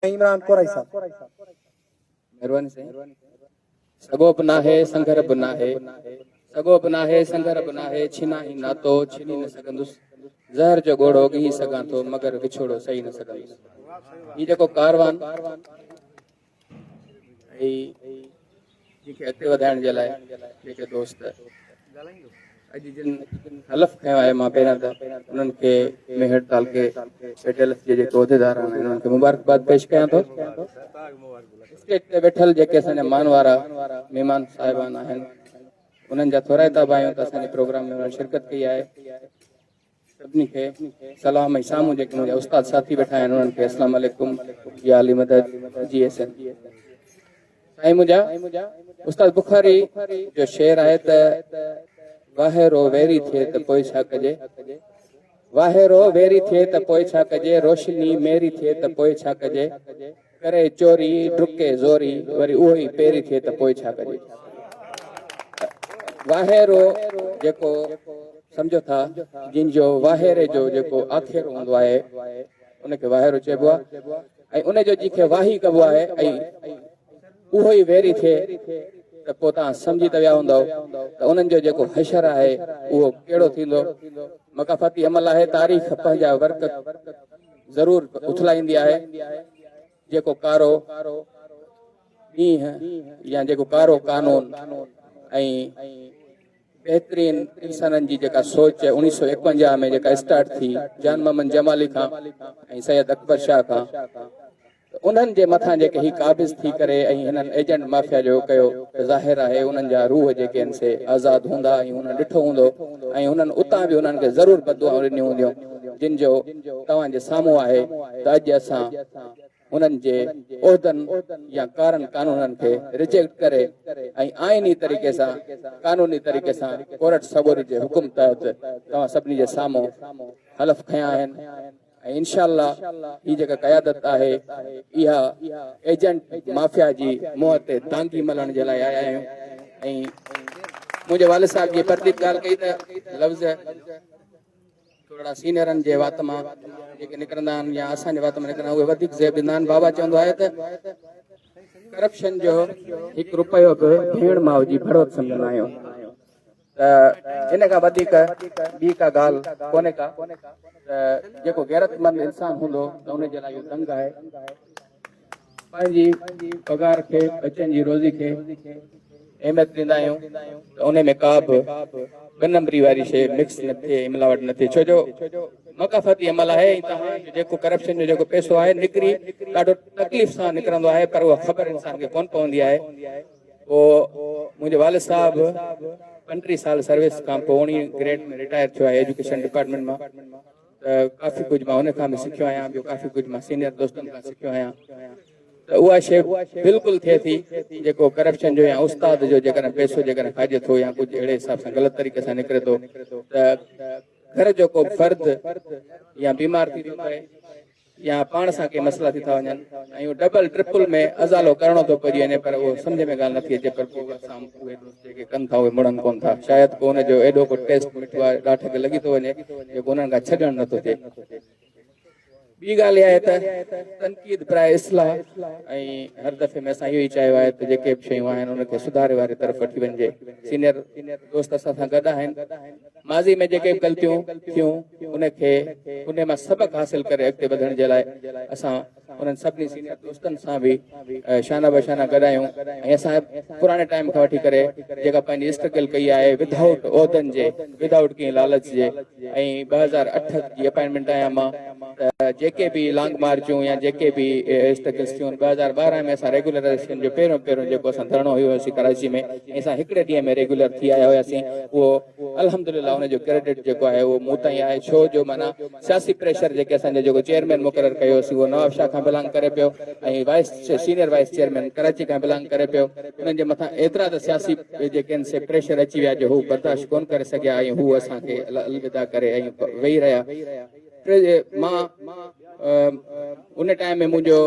سائين عمران ڪورائي صاحب. مھرباني سائين سڳو به ناھي سنگھر به ناھي سڳو به ناھي سنگھر به ناھي ڇينائين ناتو ڇيني نه سگھندس زھر جو ڳوڙھو ڳھي سگھان ٿو مگر وڇوڙو سھي نه سگھندس ھي جيڪو ڪاروان ھي جن کي اڳتي وڌائڻ جي لاء جيڪي دوست اڄ جن حلف کنيو آهي مان پهريان ته انهن کي ميهڙ تعلقي ايٽ ايل ايف جي جيڪي عهديدار آهن انهن کي مبارڪباد پيش ڪيان ٿو اسٽيج تي ويٺل جيڪي اسان جا مان وارا مهمان صاحبان آهن انهن جا ٿورائتا به آهيون ته اسان جي پروگرام ۾ انهن شرڪت ڪئي آهي سڀني کي سلام ۽ سامهون جيڪي منهنجا استاد ساٿي ويٺا آهن انهن کي اسلام عليڪم يا علي مدد جي ايس اين سائين منهنجا استاد بخاري جو شعر آهي ته واهرو ويري ٿئي ته پوء ڇا ڪجي واهرو ويري ٿئي ته پوء ڇا ڪجي روشني ميري ٿئي ته پوء ڇا ڪجي ڪري چوري، ڊڪي زوري، وري اهو ئي پيري ٿئي ته پوء ڇا ڪجي؟ واهيرو جيڪو سمجهو ٿا جن جو واهيري جو جيڪو آکيرو هوندو آهي ان کي واهيرو چئبو آهي ۽ ان جو جنهن کي واهي ڪبو آهي ۽ اهو ئي ويري ٿئي ته پوء توهان سمجهي ته ويا هوندؤ ته انهن جو جيڪو حشر آهي اهو ڪهڙو ٿيندو؟ مڪافاتي عمل آهي تاريخ پنهنجا ورق ضرور اٿلائيندي آهي، جيڪو ڪارو ڏينهن يا جيڪو ڪارو قانون ۽ بهترين انسانن جي جيڪا سوچ اڻيهه سؤ ايڪونجاهه ۾ جيڪا اسٽارٽ ٿي جان محمد جمالي کان ۽ سيد اڪبر شاهه کان ته انهن جي مٿان جيڪي هي قابض ٿي ڪري ۽ هنن ايجنٽ مافيا جو ڪيو ته ظاهر آهي انهن جا روح جيڪي آهن سي آزاد هوندا ۽ انهن ڏٺو هوندو ۽ انهن اتان به انهن کي ضرور بددعائون ڏنيون هونديون جن جو توهان جي سامهون آهي ته اڄ اسان انهن جي عهدن يا ڪارن قانونن کي رجيڪٽ ڪري ۽ آئيني طريقي سان قانوني طريقي سان ڪورٽ سڳوري جي حڪم تحت توهان سڀني جي سامهون حلف کنيا آهن. ۽ انشاء الله هي جيڪا قيادت آهي اها ايجنٽ مافيا جي منهن تي دانگي ملڻ جي لاء آيا آهيون ۽ منهنجي والد صاحب جي پرديپ ڳالهه ڪئي ته لفظ ٿورڙا سينيئرن جي وات مان جيڪي نڪرندا آهن يا اسان جي وات مان نڪرندا اهي وڌيڪ زيب ڏيندا آهن بابا چوندو آهي ته ڪرپشن جو هڪ روپيو به ڀيڻ ماء جي ڀڙوڪ سمجهندا آهيون ته ان کان وڌيڪ ٻي ڪا ڳالهه ڪونهي ڪا ته جيڪو غيرتمند انسان هوندو ته ان جي لاء اهو دنگ آهي پنهنجي پگهار کي ٻچن جي روزي کي اهميت ڏيندا آهيون ته ان ۾ ڪا به ٻه نمبري واري شيء مڪس نه ٿئي ملاوٽ نه ٿئي ڇو جو مقافاتي عمل آهي ۽ توهان جو جيڪو ڪرپشن جو جيڪو پئسو آهي نڪري ڏاڍو تڪليف سان نڪرندو آهي پر اها خبر انسان کي ڪونه پوندي آهي پوء منهنجي والد صاحب پنٽيهه سال سروس کان پوء اوڻيهه گريڊ ۾ رٽائر ٿيو آهي ايجوڪيشن ڊپارٽمينٽ مان ته ڪافي ڪجهه مان هن کان به سکيو آهيان ٻيو ڪافي ڪجهه مان سينيئر دوستن کان سکيو آهيان ته اها شيء بلڪل ٿئي ٿي جيڪو ڪرپشن جو يا استاد جو جيڪڏهن پئسو جيڪڏهن کائجي ٿو يا ڪجهه اهڙي حساب سان غلط طريقي سان نڪري ٿو ته گهر جو ڪو فرد يا بيمار ٿي ٿو پوي يا پاڻ سان ڪي مسئلا ٿي ٿا وڃن ۽ اهو ڊبل ٽرپل ۾ ازالو ڪرڻو ٿو پئجي وڃي پر اهو سمجهه ۾ ڳالهه نٿي اچي پر پوء سام اهي دوست جيڪي ڪن ٿا اهي مڙن ڪون ٿا شايد ڪو ان جو ايڏو ڪو ٽيسٽ مٺو آهي ڏاٺ کي لڳي ٿو وڃي جيڪو انهن کان ڇڏڻ نٿو ٿئي ٻي ڳالهه اها آهي ته تنقيد براء اصلاح ۽ هر دفعي ۾ اسان اهو ئي چاهيو آهي ته جيڪي به شيون آهن ان کي سڌاري واري طرف وٺي وڃجي سينئر دوست اسان سان گڏ آهن ماضي ۾ جيڪي به غلطيون ٿيون ان کي انهي مان سبق حاصل ڪري اڳتي وڌڻ جي لاء اسان انهن سڀني سينيئر دوستن سان به شانه به شانه گڏ آهيون ۽ اسان پراڻي ٽائيم کان وٺي ڪري جيڪا پنهنجي اسٽرگل ڪئي آهي ود آئوٽ عهدن جي ود آئوٽ ڪنهن لالچ جي ۽ ٻه هزار اٺ جي اپائنٽمينٽ آهيان مان جيڪي به لانگ مارچون يا جيڪي به اسٽرگلس ٿيون ٻه هزار ٻارهن ۾ اسان ريگولرائزيشن جو پهريون پهريون جيڪو اسان ڌرڻو هيو هيوسين ڪراچي ۾ ۽ اسان هڪڙي ڏينهن ۾ ريگولر ٿي آيا هياسين اهو الحمدلله ان جو ڪريڊٽ جيڪو آهي اهو مون تائين آهي ڇو جو معنيٰ سياسي پريشر جيڪي اسان جو جيڪو چيئرمين مقرر ڪيو هيوسين اهو نواب شاهه کان بلانگ ڪري پيو ۽ vice senior vice chairman Karachi کان بلانگ ڪري پيو انهن جي مٿان ايترا ته سياسي جيڪي آهن سي پريشر اچي ويا جو هو برداشت ڪونه ڪري سگهيا ۽ هو اسان کي الوداع ڪري ۽ ويهي رهيا مان ان ٽائيم ۾ منهنجو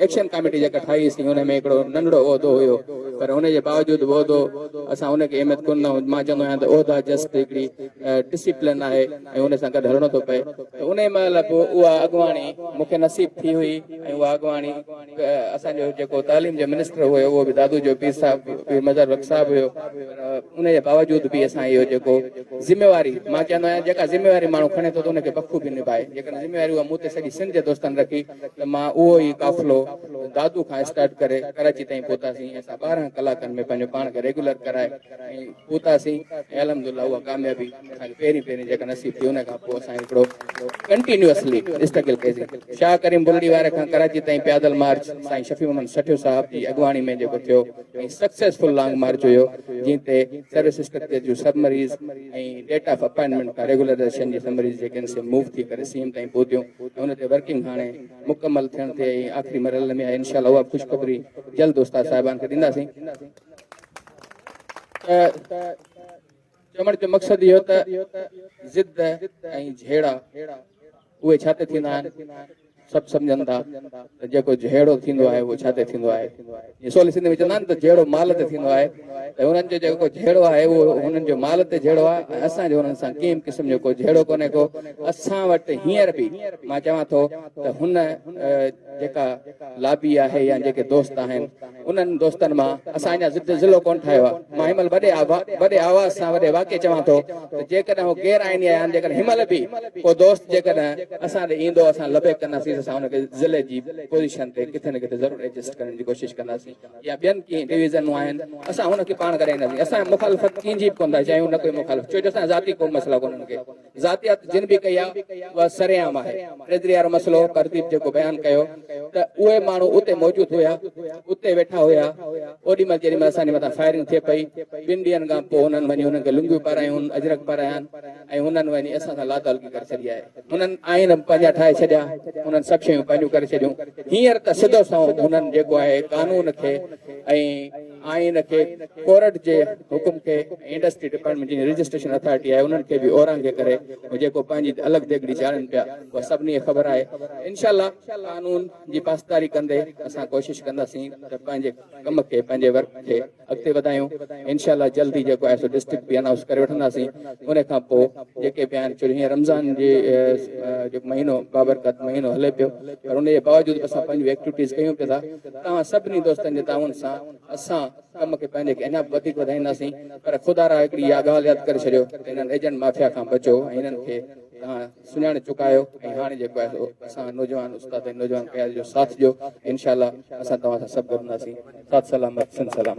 ايڪشن ڪاميٽي جيڪا ٺاهي سين ان ۾ هڪڙو ننڍڙو عهدو هيو پر ان جي باوجود به عهدو اسان ان کي اهميت ڪونه ڏنائون مان چوندو آهيان ته عهدا جسٽ هڪڙي ڊسيپلن آهي ۽ ان سان گڏ هلڻو ٿو پئي ته انهي مهل به اها اڳواڻي مون کي نصيب ٿي هئي ۽ اها اڳواڻي اسان جو جيڪو تعليم جو منسٽر هيو اهو به دادو جو پير صاحب پير مظهر بخش صاحب هيو پر ان جي باوجود به اسان اهو جيڪو ذميواري مان چوندو آهيان جيڪا ذميواري ماڻهو کڻي ٿو ته ان کي بخوبي نڀائي جيڪڏهن ذميواري اها مون تي سڄي سنڌ جي دوستن رکي ته مان اهو ئي قافلو دادو کان اسٽارٽ ڪري ڪراچي تائين پهتاسين ۽ اسان ٻارهن ڪلاڪن ۾ پنهنجو پاڻ کي ريگيولر ڪرائي ۽ پهتاسين ۽ الحمدلله اها ڪاميابي اسانکي پهرين پهرين جيڪا نصيب ٿي ان کان پوء اسان هڪڙو ڪنٽينيوسلي اسٽرگل ڪئيسي شاهه ڪريم بلڙي واري کان ڪراچي تائين پيادل مارچ سائين شفيع محمد سٺيو صاحب جي اڳواڻي ۾ جيڪو ٿيو ۽ سڪسيسفل لانگ مارچ هيو جنهن تي سروس اسٽرڪچر جون سبمريز ۽ ڊيٽ آف اپائنٽمينٽ کان ريگولرائزيشن جي سبمريز جيڪي آهن سي موو ٿي ڪري سيم تائين پهتيون ۽ ان تي ورڪنگ هاڻي مڪمل ٿيڻ تي ۽ آخري مرحلي ۾ آهي انشاء الله اها خوشخبري جلد استاد صاحبان کي ڏينداسين ته چوڻ جو مقصد اهو ته ضد ۽ جهيڙا اهي ڇا تي ٿيندا آهن؟ سڀ سمجهن ٿا ته جيڪو جهيڙو ٿيندو آهي اهو ڇا تي ٿيندو آهي؟ جيئن سولي سنڌي ۾ چوندا آهن ته جهيڙو مال تي ٿيندو آهي ته هنن جو جيڪو جهيڙو آهي اهو هنن جو مال تي جهيڙو آهي ۽ اسان جو هنن سان ڪنهن به قسم جو ڪو جهيڙو ڪونهي ڪو اسان وٽ هينئر به مان چوان ٿو ته هن جيڪا لابي آهي يا جيڪي دوست آهن انهن دوستن مان اسان اڃا ضد ضلعو ڪونه ٺاهيو آهي. مان هن مهل وڏي آواز سان وڏي واڪي چوان ٿو ته جيڪڏهن هو غير آئيني آهيان جيڪڏهن هن مهل به ڪو دوست جيڪڏهن اسان ڏي ايندو اسان لبيڪ ڪنداسين ته اسان ان کي ضلعي جي پوزيشن تي ڪٿي نه ڪٿي ضرور ايڊجسٽ ڪرڻ جي ڪوشش ڪنداسين يا ٻين ڪئين ڊويزنون آهن اسان ان کي پاڻ ڪرائينداسين اسان مخالفت ڪنهن جي به ڪونه ٿا چاهيون نه ڪوئي مخالف ڇو جو اسان ذاتي ڪو مسئلا ڪونه انهن کي ذاتيات جن به ڪئي آهي اها سرعام آهي. ٽريجري وارو مسئلو پرديپ جيڪو بيان ڪيو ته اهي ماڻهو اتي موجود هيا اتي ويٺا هيا اوڏي مهل جيڏي مهل اسان جي مٿان فائرنگ ٿئي پئي ٻن ڏينهن کان پوء هنن وڃي هنن کي لنگيون پارايون اجرڪ پارايان ۽ هنن وڃي اسان سان لاتعلقي ڪري ڇڏي آهي هنن آئين پنهنجا ٺاهي ڇڏيا هنن سڀ شيون پنهنجون ڪري ڇڏيون هينئر ته سڌو سنئون هنن جيڪو آهي قانون کي ۽ آئين کي ڪورٽ جي حڪم کي ۽ انڊسٽري ڊپارٽمينٽ جي رجسٽريشن اٿارٽي آهي انهن کي به اورانگي ڪري ۽ جيڪو پنهنجي الڳ ديڳڙي جاڙين پيا اها سڀني کي خبر آهي انشاء الله قانون جي پاسداري ڪندي اسان ڪوشش ڪنداسين ته پنهنجي ڪم کي پنهنجي ورڪ کي اڳتي وڌايون انشاء الله جلد ئي جيڪو آهي سو ڊسٽرڪٽ به انائونس ڪري وٺنداسين ان کان پوء جيڪي به آهن ڇو جو هينئر رمضان جي جيڪو مهينو بابرڪت مهينو هلي پيو پر ان جي باوجود به اسان پنهنجون ايڪٽوٽيز ڪيون پيا ٿا توهان سڀني دوستن جي تعاون سان اسان ڪم کي پنهنجي کي اڃا به وڌيڪ وڌائينداسين پر خدا را هڪڙي اها ڳالهه ياد ڪري ڇڏيو ته انهن ايجنٽ مافيا کان بچو ۽ انهن کي توهان سڃاڻي چڪا آهيو ۽ هاڻي جيڪو آهي سو اسان نوجوان استاد ۽ نوجوان قيادت جو ساٿ ڏيو انشاء الله اسان توهان سان سڀ گڏ هونداسين سات سلامت سنڌ سلامت.